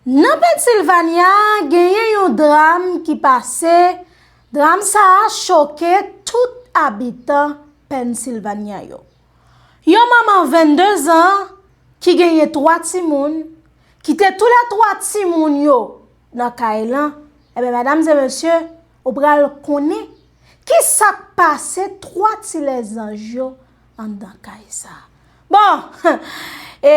Nan Pennsilvanya, genyen yon dram ki pase, dram sa a choke tout abitan Pennsilvanya yo. Yon manman 22 zan ki genyen 3 timoun, kite tou le 3 timoun yo nan kay lan, enben medam e mesye, ou pral konnen ki sa k pase 3 ti lèzanj yo. anndan kay sa. Bon! E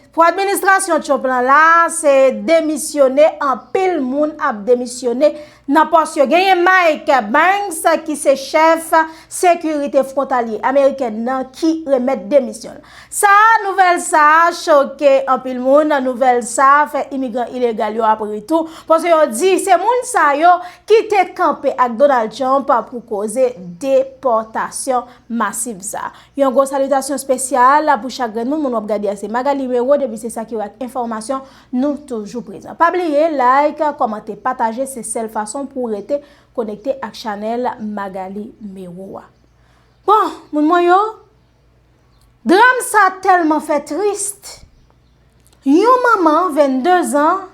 pou administrasyon Trump lan la, se demisyone anpil moun ap demisyone nan pòs yo. Genyen Mike Banks ki se chèf sekirite fwontalye amerikèn nan ki remèt demisyon. Sa a, nouvèl sa a choke anpil moun. Nouvèl sa a fè imigran ilegal yo ap ri tou. Pòs yo di se moun sa yo ki te kanpe ak Donald Trump pou koze depòtasyon. masiv sa. Yon gwo salitasyon spesyal pou chak grenn moun moun wap gade a se Magalie Rero depi se sa ki wè ak enfòmasyon nou toujou prezan pa bliye like kòmante pataje se sèl fason pou w rete konekte ak chanèl Magalie Mero a bon moun mwen yo dram sa tèlman fè trist yon manman 22 zan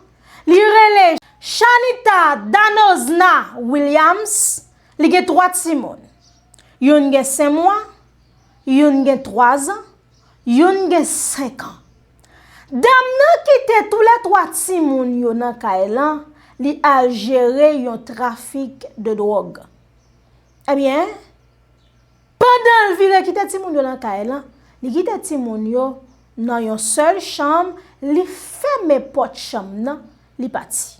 li rele Chanita Danozna Williams li gen 3 timoun. Youn gen 5 mwa, youn gen 3 zan, youn gen 5 an. Dam nan kite tou le 3 timoun yo nan kay lan, li al jere yon trafik de drog. Ebyen, pandan l vire kite timoun yo nan kay lan, li kite timoun yo nan yon sel chanm, li fèmen pot chanm nan, li pati.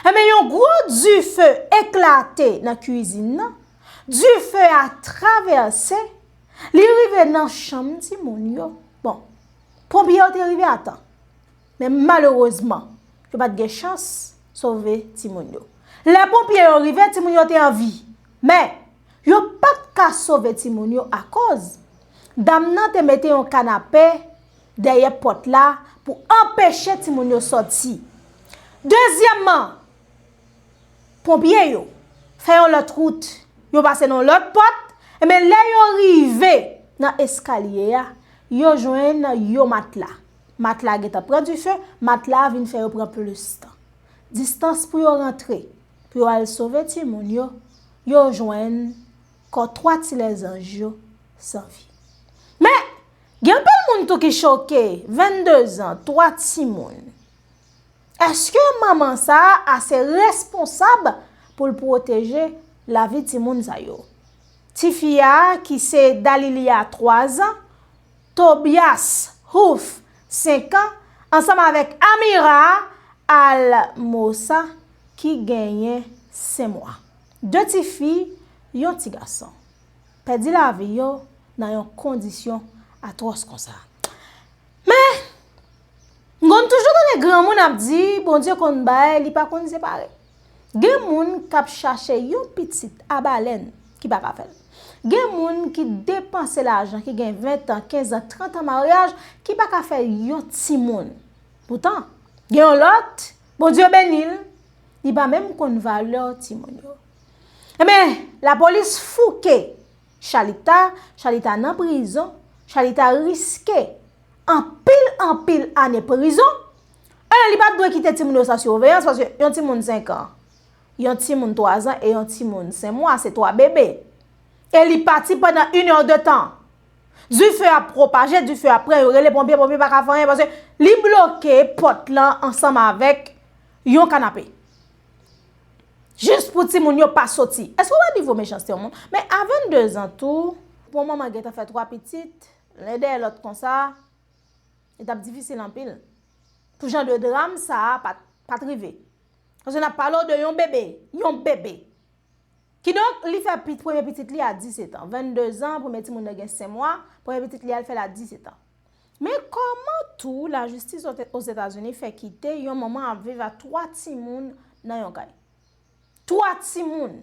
Ebyen, yon gwo dife eklate nan kwizin nan, Dife a travèse, li rive nan chanm ti moun yo. Bon, ponpye yo te rive atan. Men malerezman, yo pat gen chans sove ti moun yo. Lè ponpye yo rive, ti moun yo te an vi. Men, yo pat ka sove ti moun yo akoz. Dam nan te mete yon kanape dèyè pot la pou anpeche ti moun yo soti. Dezyèmman, Ponpye yo fè yon lòt wout, yo pase nan yon lòt pòt, enben lè yo rive nan eskalye a, yo jwenn yon matla. Matla a gentan pran dife, matla a vin fè yo pran plis tan. Distans pou yo rantre, pou yo al sove timoun yo, yo jwenn kò 3 ti lèzanj yo san vi. Men, gen anpil moun tou ki choke, 22 zan, 3 timoun. Eske manman sa a ase responsab pou l pwoteje lavi timoun sa yo? Tifi a ki se Dalilia 3 zan, Tobias Huth 5 an ansanm avèk Amira Almosa ki genyen 5 mwa. 2 tifi, yon ti gason. Pèdi lavi yo nan yon kondisyon atwòs konsa. Men, m konn toujou tande granmoun ap di, Bondye konn bay, li pa konn separe. Gen moun k ap chache yon pitit a balèn ki pa ka fè l. Gen moun ki depanse lajan ki gen ventan, kenzan, trantan maryaj ki pa ka fè yon timoun. Poutan, gen yon lòt, Bondye beni l, li pa menm konn valè timoun yo. Enben, lapolis fouke. Chalita chalita nan prizon chalita riske anpil anpil ane prizon alò li pat dwe kite timoun yo san surveillance paske yon timoun 5 ans yon timoun 3 ans e yon timoun 5 mwa se 3 bebe e li pati pandan une heure de temps du feu ap propaje du feu ap pran yo rele ponpye ponpye paka fè anyen paske li bloke pòt lan ansanm avèk yon kanape. Jis pou ti moun yo pa soti. Eske ou wè nivo mechanste yon moun? Men a 22 zan tou, pou yon manman gentan fè 3 pitit, len dèyè lòt konsa, li tap difisil anpil. Pou jan de dram sa a pat rive. Paske nap pale w de yon bebe, yon bebe. Ki donk li fè premye pitit li a 17 an. 22 zan, premye ti moun nan gen 5 mwa, premye pitit li a li fè l a 17 an. Men kòman tou lajistis Ozetazini fè kite yon manman ap viv a 3 timoun nan yon kay? 3 timoun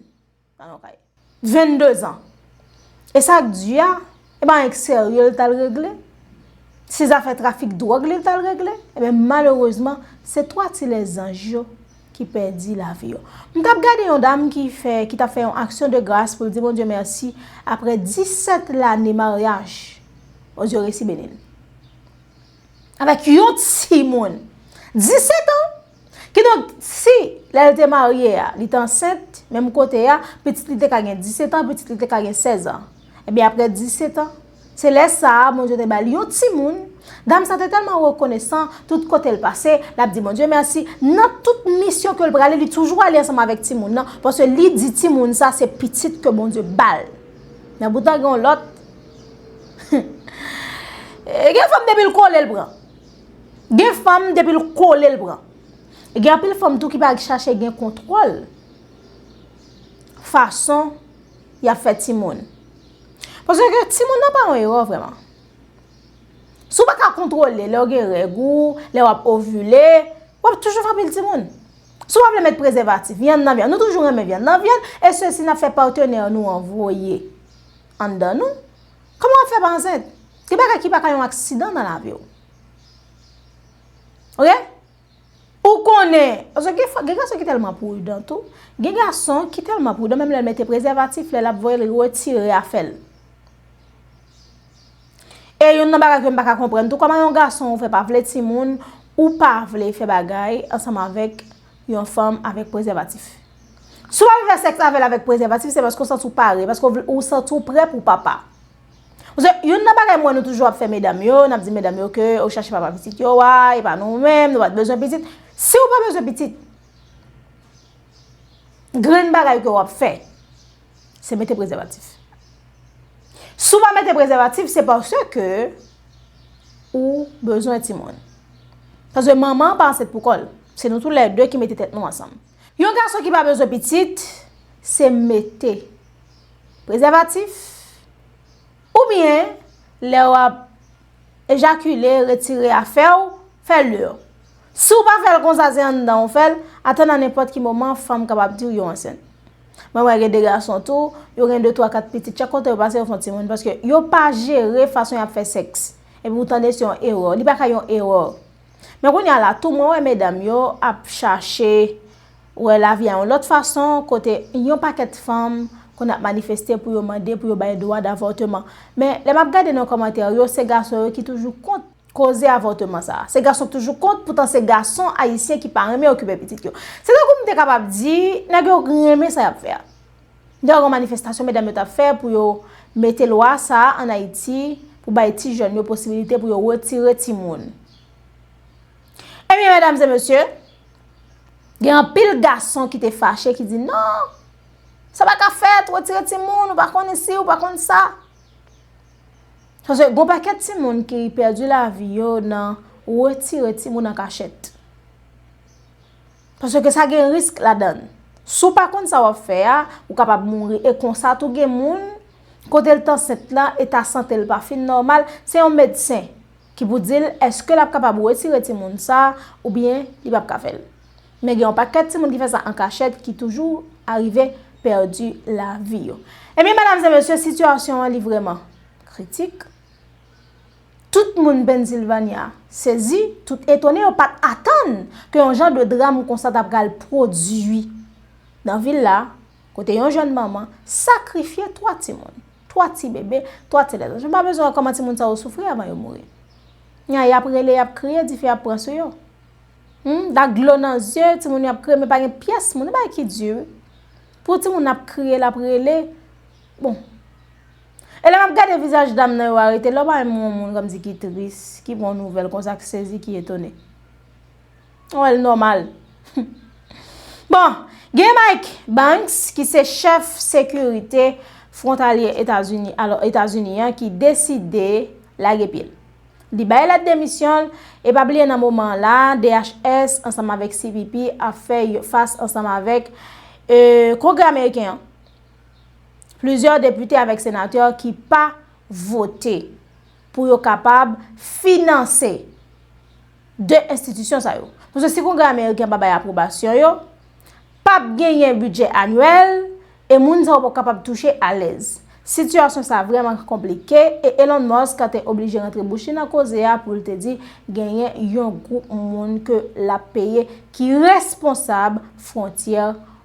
nan yon kay. 22 zan. E sa k di a, e pa anyen k serye l t al regle? Se zafè trafik dwòg li t al regle? Enben malerezman, se 3 ti lèzanj yo. ki pèdi lavi yo. M tap gade yon dam ki fè, ki tap fè yon aksyon de gras pou l di Bondye mèsi aprè 17 lane maryaj, Bondye resi beni l. Avèk yon ti moun, 17 an! Ki donk, si lè l te marye a, li te ansent, menm kote a, pitit li te ka gen 17 an, pitit li te ka gen 16 an. Ebyen aprè 17 an, Se lè sa a, Bondye te ba li yon timoun. Dam sa te tèlman rekonesan, tout kote l pase, l ap di Bondye mèsi. Nan tout misyon ke l prale, li toujou ale ansanm avèk timoun nan, paske li di timoun sa se pitit ke Bondye ba l. Men poutan gen yon lòt, gen fanm depi l kole l pran. Gen fanm depi l kole l pran. E gen anpil fanm tou ki pa chache gen kontwòl fason y ap fè timoun. Paske ke ti moun nan pa yon erò vreman. Si w pa ka kontrole lè w gen règ ou, lè w ap ovule, w ap toujou fè anpil ti moun. Si w pa vle met prezèvatif, vyann nan vyann. Nou toujou renmen vyann nan vyann, e se si n ap fè patenè nou an voye anndan nou. Kouman w ap fè pa ansent? Gen bagay ki pa ka yon aksidan nan lavi w. Ok? Ou konnen, paske gen fwa, gen gason ki tèlman prudan tou, gen gason ki tèlman prudan menm lèl mete prezèvatif lèl ap voye li retire afèl. E youn nan bagay kem pa ka konprann tou, kòman yon gason ou fè pa vle timoun, ou pa vle fè bagay ansanm avèk yon fanm avèk prezèvatif. Si wap fè sèks avèl avèk prezèvatif se paske ou santi ou pare, paske ou santi ou prè pou papa. Paske youn nan bagay m wè nou toujou ap fè medam yo, n ap di medam yo ke ou chache papa pitit yo a, e pa nou menm, nou pa t bezwen pitit. Si ou pa bezwen pitit, grenn bagay ke w ap fè, se mete prezèvatif. Si ou pa mete prezèvatif, se paske ou bezwen timoun. Paske manman pa ansent pou kò l. Se nou tou lè de ki mete tèt nou ansanm. Yon gason ki pa bezwen pitit, se mete prezèvatif oubyen lè w ap ejakile, retire afè w, fè l yo. Si w pa fè l konsa se anndan ou fè l, atann anenpòt ki moman fanm kapab di w yo ansent. Mwen wè gen de gason tou, yo gen de twa kat pitit, chak kote yo pase yo fè yon timoun paske yo pa jere fason y ap fè sèks. Epi w tande se yon erè, li pa ka yon erè. Men kounye a la tou mwen wè medam yo ap chache wè lavi a yon lòt fason kote yon pakèt fanm konn ap manifeste pou yo mande pou yo bay dwa davòteman. Men lè m ap gade nan kòmantè yo se gason yo ki toujou kont koze avòteman sa. Se gason ki toujou kont poutan se gason ayisyen ki pa renmen okipe pitit yo. Se tankou m te kapab di nèg yo renmen sa y ap fè a. Gen yon manifestasyon medam yo t ap fè pou yo mete lwa sa a an Ayiti pou bay ti jèn yo posibilite pou yo retire timoun. Ebyen medam e mesye, gen anpil gason ki te fache ki di non, sa pa ka fèt, retire timoun, ou pa konn isi, ou pa konn sa. Gen yon pakèt timoun ki pèdi lavi yo nan retire timoun an kachèt. Paske sa gen risk ladann. Si w pa konn sa w ap fè a, ou kapab mouri. E konsa tou gen moun, kote l t ansent la, eta sante l pa fin nòmal, se yon medsen ki pou di l èske l ap kapab wetire timoun sa a oubyen li p ap ka fè l. Men gen yon pakèt timoun ki fè sa an kachèt ki toujou arive pèdi lavi yo. Ebyen medam e mesye, sitiyasyon an li vrèman kritik. Tout moun Pennsylvania sezi, tout etone yo pat atann ke yon jan de dram konsa ta pral pwodui nan vil la, kote yon jèn manman sakrifye 3 timoun, 3 ti bebe, 3 ti lèzanj. Mwen pa bezwen wè kòman timoun sa yo soufri avan yo mouri. Nya y ap rele, y ap kriye, dife ap pran sou yo. Humm, ak dlo nan zye, timoun yo ap kriye men pa gen pyès moun, se bagay ki di wi. Pou yon timoun ap kriye, l ap rele, bon. E lè map gade vizaj dam nan yo arete lè bay mwen yon moun kòm si ki tris ki pran yon nouvèl konsa ki sezi ki etone mwen wèl nòmal bon gen Mike Banks ki se chèf sekirite frontalye etazini alò etazini an ki deside lage pyel li bay lèt demisyonl e pa bliye nan moman la DHS ansanm avèk CBP ap fè fas ansanm avèk kongrè ameriken an. Plizyè depite avèk senatè ki pa vote pou yo kapab finanse 2 enstitisyon sa yo. Pwosè si kongrè ameriken pa bay apwobasyon yo, pap genyen bidjè anwèl e moun sa yo pap kapab touche alèz. Sitiyasyon sa vrèman konplike e Elon Musk te oblije rantre bouch li nan koze a pou l te di genyen yon gwoup moun ke lap peye ki responsab fwontyè.